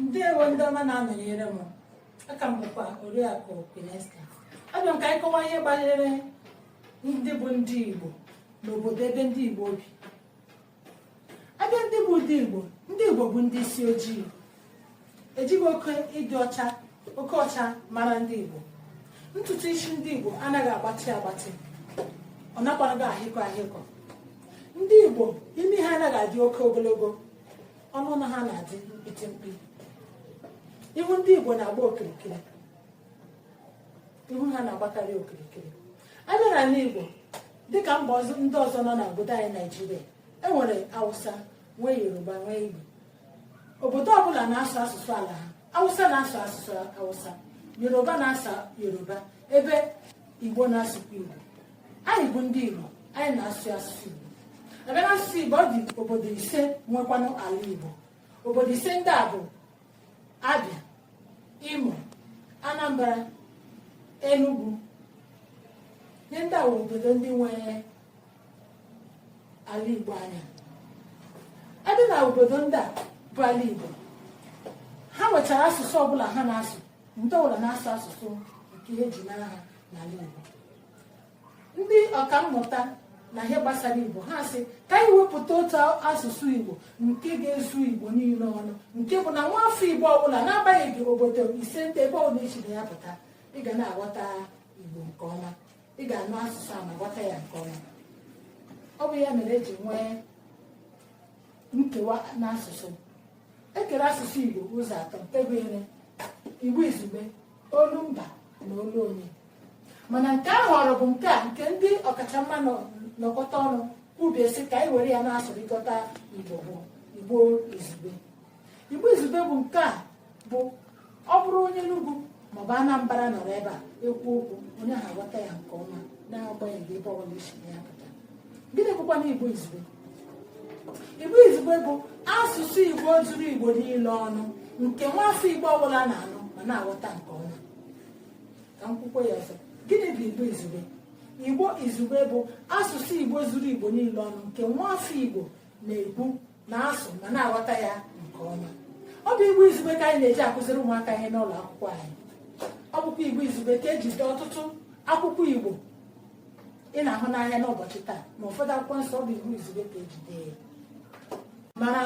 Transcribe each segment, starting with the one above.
ndewo ndị ọma na-anọnyere m aha m bụkwa oriakụ Pinesta abịa m ka anyị kọwaa ihe banyere ndị bụ ndị Igbo n'obodo ebe ndị Igbo bi abịa ndị bụ ndị Igbo ndị Igbo bụ ndị isi ojii ejighị oke ịdị ọcha oke ọcha mara ndị Igbo ntutu isi ndị Igbo anaghị agbatị agbatị ọ nakwanaghị ahịkọ ahịkọ ndị Igbo imi ha anaghị adị oke ogologo ọnụ na ha na-adị mkpiti mkpi ihu ndị Igbo na-agba okirikiri ihu ha na-agbakarị okirikiri abịa n'ala Igbo dịka mba ndị ọzọ nọ n'obodo anyị Naijiria enwere Hausa nwee Yoruba nwee Igbo obodo ọbụla na-asụ asụsụ ala ha Hausa na-asụ asụsụ Hausa Yoruba na-asụ Yoruba ebe Igbo na-asụkwa Igbo anyị bụ ndị Igbo anyị na-asụ asụsụ Igbo abịa na asụsụ Igbo ọ dị obodo ise nwekwanụ ala Igbo obodo ise ndị a bụ Abịa Imo Anambra Enugu ihe ndị a bụ obodo ndị nwere ala Igbo anyị adị na obodo ndị a bụ ala Igbo ha nwechara asụsụ ọbụla ha na-asụ ndị ọbụla na-asụ asụsụ nke eji mara ha n'ala Igbo ndị ọkammụta na ihe gbasara igbo ha sị ka anyị wepụta otu asụsụ igbo nke ga-ezu igbo niile ọnụ nke bụ na nwa afọ igbo ọbụla n'agbanyeghị obodo ise ndị a ebe ọbụla i si na ya pụta ị ga na-aghọta igbo nke ọma ị ga-anụ asụsụ a ma ghọta ya nke ọma ọ bụ ya mere eji nwee nkewa n'asụsụ e kere asụsụ Igbo ụzọ atọ nke gụnyere Igbo izugbe olu mba na olu onye mana nke a họrọ bụ nke a nke ndị ọkachamma nọkọta ọnụ kwubie sị ka anyị were ya na-asụrịkọta Igbo bụ Igbo izugbe Igbo izugbe bụ nke a bụ ọ bụrụ onye Enugu maọbụ Anambra nọrọ ebe a ekwu okwu onye ahụ aghọta ya nke ọma n'agbanyeghị ebe ọbụla i si ya pụta gịnị bụkwanụ Igbo izugbe Igbo izugbe bụ asụsụ Igbo zuru Igbo niile ọnụ nke nwaafọ Igbo ọbụla na-anụ ma na-aghọta nke ọma ka m kwukwaa ya ọzọ gịnị bụ Igbo izugbe Igbo izugbe bụ asụsụ Igbo zuru Igbo niile ọnụ nke nwaafọ Igbo na-ekwu na-asụ ma na-aghọta ya nke ọma ọ bụ igbo izugbe ka anyị na-eji akụziri ụmụaka ihe n'ụlọ akwụkwọ anyị ọ bụkwa igbo izugbe ka eji dee ọtụtụ akwụkwọ igbo ị na-ahụ n'anya n'ụbọchị taa ma ụfọdụ akwụkwọ nsọ ọ bụ igbo izugbe ka eji dee ya mana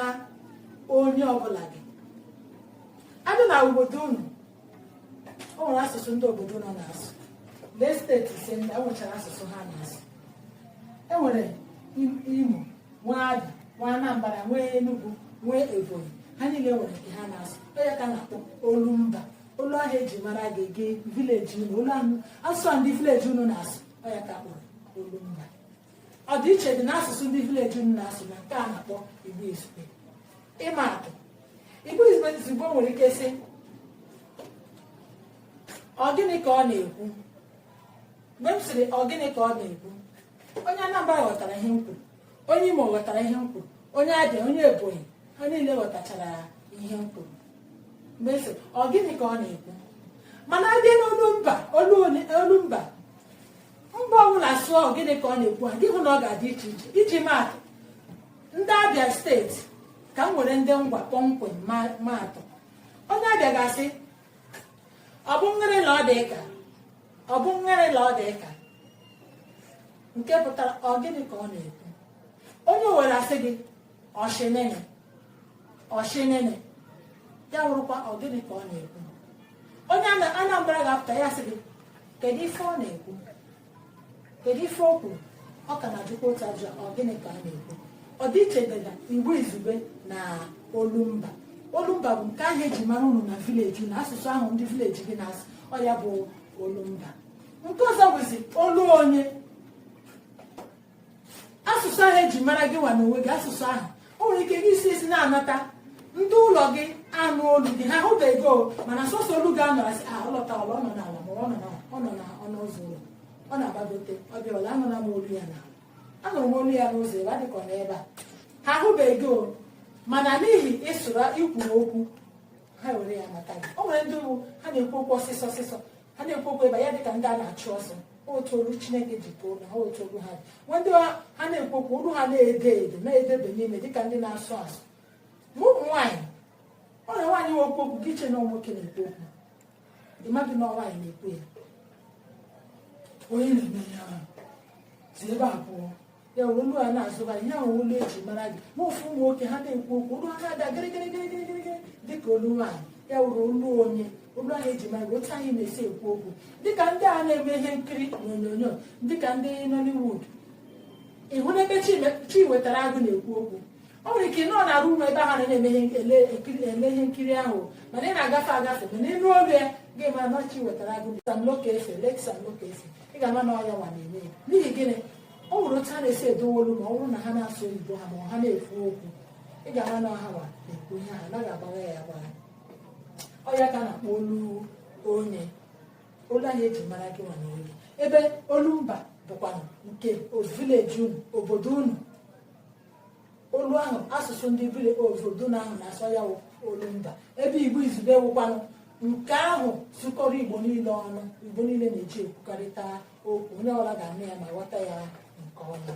onye ọbụla gị adị na obodo unu o nwere asụsụ ndị obodo unu na-asụ lee steeti ise ndị a nwechara asụsụ ha na-asụ enwere imo nwee Abia nwee Anambra nwee Enugu nwee Ebonyi ha niile nwere nke ha na-asụ ọ ya ka a na-akpọ olu mba olu ahụ eji mara gị gị vileji unu olu ahụ asụsụ ndị vileji unu na-asụ ọ ya ka a kpọrọ olu mba ọdịiche dị n'asụsụ ndị vileji unu na-asụ na nke a na-akpọ Igbo Izugbe ịma atụ Igbo Izugbe nwere ike sị ọ gịnị ka ọ na-ekwu mgbe m sịrị ọ gịnị ka ọ na-ekwu onye Anambra ghọtara ihe m kwuru onye Imo ghọtara ihe m kwuru onye Abịa onye Ebonyi ha niile ghọtachara ihe m kwuru mgbe m sịrị ọ gịnị ka ọ na-ekwu mana a bịa n'olu mba olu mba mba ọbụla sụọ ọ gịnị ka ọ na-ekwu a gị ahụ na ọ ga-adị iche iche iji maatụ ndị Abịa steeti ka m were ndị Ngwa kpọmkwem maatụ onye Abịa ga-asị ọ bụ ngịrị na ọ dị ka ọ bụ ngịrị la ọ dị ka nke pụtara ọ gịnị ka ọ na-ekwu onye Owere asị gị ọ shị nịnị ọ shị nịnị ya wụrụkwa ọ gịnị ka ọ na-ekwu onye Anambra ga-apụta ya sị gị kedu ife ọ na-ekwu kedu ife o kwuru ọ ka na-ajụkwa otu ajụjụ ọ gịnị ka ọ na-ekwu ọdịiche dị na Igbo Izugbe na olumba olumba bụ nke ahụ eji mara unu na vileji na asụsụ ahụ ndị vileji gị na-asụ ọ ya bụ olumba nke ọzọ bụzi olu onye asụsụ ahụ eji mara gị nwa n'onwe gị asụsụ ahụ o nwere ike gị esi ezi na-anata ndị ụlọ gị anụ olu gị ha ahụbeghị mana sọsọ olu gị a nụrụ asị ah, ọ lọtawala ọ nọ n'ala ma ọ nọ n'ọnụ ụzọ ụlọ ọ na-agbagote ọ bịawala anụla m olu ya na anụ m olu ya n'ụzọ ebe adịkọ n'ebe a ha ahụbeghị gị mana n'ihi ị sụrụ i kwuru okwu ha were ya mata gị o nwere ndị bụ ha na-ekwu okwu ọsịsọ ọsịsọ ha na-ekwu okwu ebe ya dịka ndị a na-achụ ọsọ otu olu Chineke ji too na ha otu olu ha dị nwee ndị ha na-ekwu okwu olu ha na-ede ede na-edebe n'ime dịka ndị na-asụ asụ ma ụmụ nwaanyị o nwere nwaanyị na-ekwu okwu gị echee na nwoke na-ekwu okwu ịmadị na ọ nwaanyị na-ekwu ya onye na-eme ihe ahụ si ebe a pụọ ya wụrụ olu a na-azụba ihe ahụ olu eji mara gị ma ụfụ ụmụ nwoke ha na-ekwu okwu olu ha na-ada gịrịgịrịgịrịgịrịgịrị dịka olu nwaanyị ya wụrụ olu onye olu ahụ eji mara gị otu anyị na-esi ekwu okwu dịka ndị a na-eme ihe nkiri n'onyonyo dịka ndị Nollywood ịhụ n'ebe Chiwetara Agụ na-ekwu okwu o nwere ike nọ na rum ebe ahụ na-eme ihe nkiri ahụ mana ị na-agafe agafe mana ịnụ olu ya gị amara na Chiwetara Agụ Sam Loco Efe late Sam Loco Efe ị ga-ama na ọya nwa na-eme ya n'ihi gịnị o nwere otu ha na-esi edowe olu ma ọ bụrụ na ha na-asụ oyibo ha ma ha na-ekwu okwu ị ga-ama na ọha nwa na-ekwu ihe ha anaghị agbagha ya agbagha ọya ka na-akpọ olu onye olu anyị eji mara gị nwa na onye ebe olu mba bụkwa nke vileji unu obodo unu olu ahụ asụsụ ndị bi n'obodo ahụ na-asụ ya olu mba ebe igbo izugbe wụkwanụ nke ahụ zukọrọ igbo niile ọnụ igbo niile na-eji ekwukọrịta okwu onye ọbụla ga-anụ ya ma ghọta ya nke ọma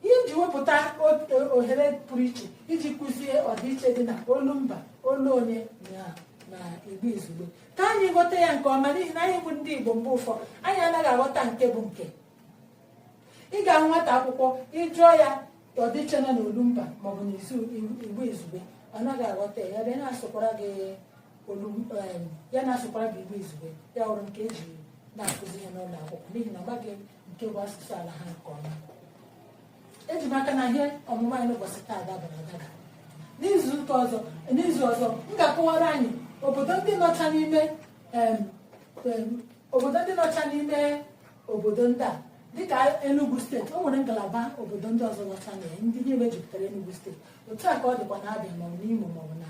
ihe m ji wepụta ohere pụrụ iche iji kụzie ọdịiche dị na olu mba olu onye na igbo izugbe ka anyị ghọta ya nke ọma n'ihi na anyị bụ ndị igbo mgbe ụfọdụ anyị anaghị aghọta nke bụ nke ị ga-ahụ nwata akwụkwọ ị jụọ ya ọdịiche nọ n'olumba maọbụ n'izu igbo izugbe ọ naghị aghọta ya ebe na-asụkwara gị ya na-asụkwara gị igbo izugbe ya wụrụ nke eji na-akụzi ihe n'ụlọ akwụkwọ n'ihi na ọ maghị nke bụ asụsụ ala ha nke ọma eji m aka na ihe ọmụmụ anyị n'ụbọchị taa dabara adaba n'izu ọzọ m ga-akọwara anyị obodo ndị nọcha n'ime obodo ndị nọcha n'ime obodo ndị a dịka Enugu steeti o nwere ngalaba obodo ndị ọzọ nọcha na ya ndị niile mejupụtara Enugu steeti otu a ka ọ dịkwa na Abịa maọbụ n'Imo maọbụ na